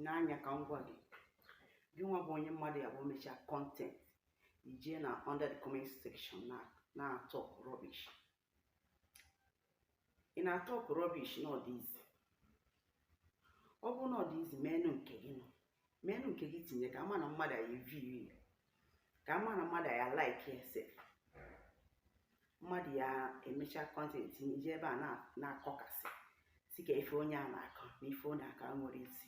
n'anya ka m gwa gị gịnwa bụ onye mmadụ ya bụ mechaa content i jee na under the comment section na-atalk rubbish ị na-atalk rubbish na ọ dị easy ọ bụrụ na ọ dị easy meenụ nke gị now meenụ nke gị tinye ka a ma na mmadụ ya-eview ka a ma na mmadụ ya like ya sef mmadụ ya emecha content i jebe na- na-akọkasị sị ka ife onye a na-akọ na ife ọ na-akọ o nwere isi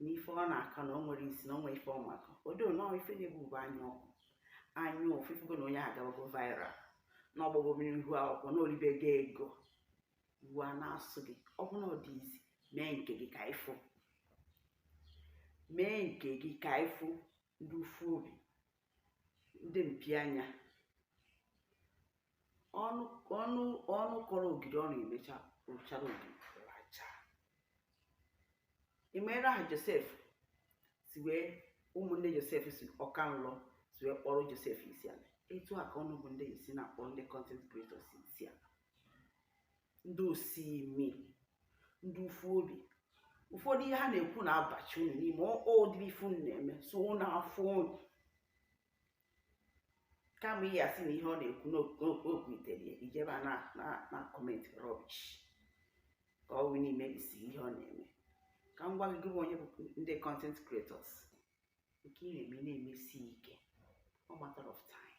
na ife ọ na-akọ na o nwere isi na o nwere ife ọ ma akọ odo nọọ ife na-egbu bụ anya ọkụ anya ụfụ ị fụgo na onye a agabago viral na ọgbọgbọ mmiri ihu akwụkwọ na o ribego ego iwe a na-asụ gị ọ bụrụ na ọ dị easy mee nke gị ka ị fụ mee nke gị ka ị fụ ndị ụfụ obi ndị mpi anya ọnụ kọrọ ogiri ọnụ emecha rụchara ogiri racha ịmere aha josef si wee ụmụnne josef sị ọka nlọ si wee kpọrọ josef isi ala etu a ka unu bụ ndị isi na-akpọ ndị content creators isi ala ndị osi imi ndị ụfụ obi ụfọdụ ihe ha na-ekwu na-abachi unu n'ime ụdịrị ife unu na-eme so ọ na-afụ unu kama ị ya-asị na ihe ọ na-ekwu na o kwutere i jebe na-acomment rubbish ka ọ wee na-emebisi ihe ọ na-eme ka m gwa gị bụ onye bụ ndị content creators nke ị na-eme na-emesi ike ọ matter of time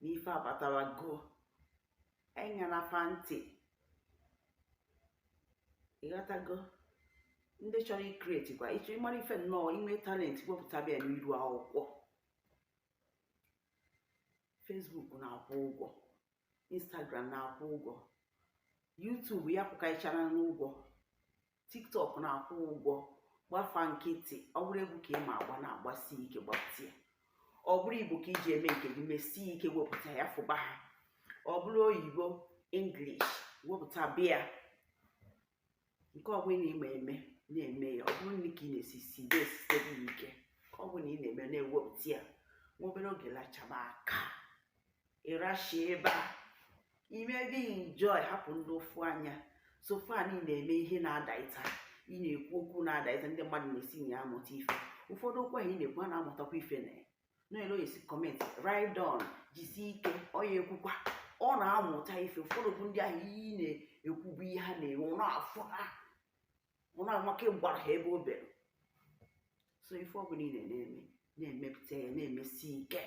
na ife abatarago enyena fa ntị ị ghọtago ndị chọrọ icreate kwa ịchọ ị mara ife nnọọ i nwee talent wepụta bịa n'iru akwụkwọ facebook na-akwụ ụgwọ instagram na-akwụ ụgwọ youtube ya pụkaichara n'ụgwọ tiktok na-akwụ ụgwọ gba fa nkịtị ọ bụrụ egwu ka ị ma agba na-agbasi ike gbatịa ọ bụrụ igbo ka i ji eme nke gị mesie ike wepụta ya fụba ha ọ bụrụ oyibo english wepụta bịa nke ọ bụla ị ma eme na-eme ya ọ bụrụ nri ka ị na-esi si de esite gị ike ọ bụla ị na-eme na-ewepụta ya nwa obere oge lachaba aka ịrashi ebe a i mebe enjoy hapụ ndị ụfụ anya so far ị na-eme ihe na-adaịta ị na-ekwu okwu na-adaịta ndị mmadụ na-esi na ya amụta ife ụfọdụ okwu ahụ ị na-ekwu a na-amụtakwa ife na noel oyesi comment ride on jisi ike ọ ya-ekwukwa ọ na-amụta ife ụfọdụ bụ ndị ahụ ị na-ekwubu ihe ha na-enwe ọ na-afụ ha ọ na-amaka ịgbara ha ebe o bere so ife ọ bụla ị na-eme na-emepụta ya na-emesi ike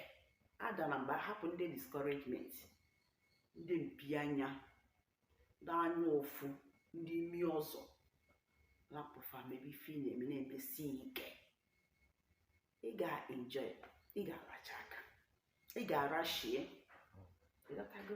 adana mba hapụ ndị discouragement ndị mpi anya ndị anya ụfụ ndị imi ọzọ lapụ fa mebe ife ị na-eme na-emesi ike ị ga-enjoy ị ga-aracha aka ị ga-arashie ị ghọtago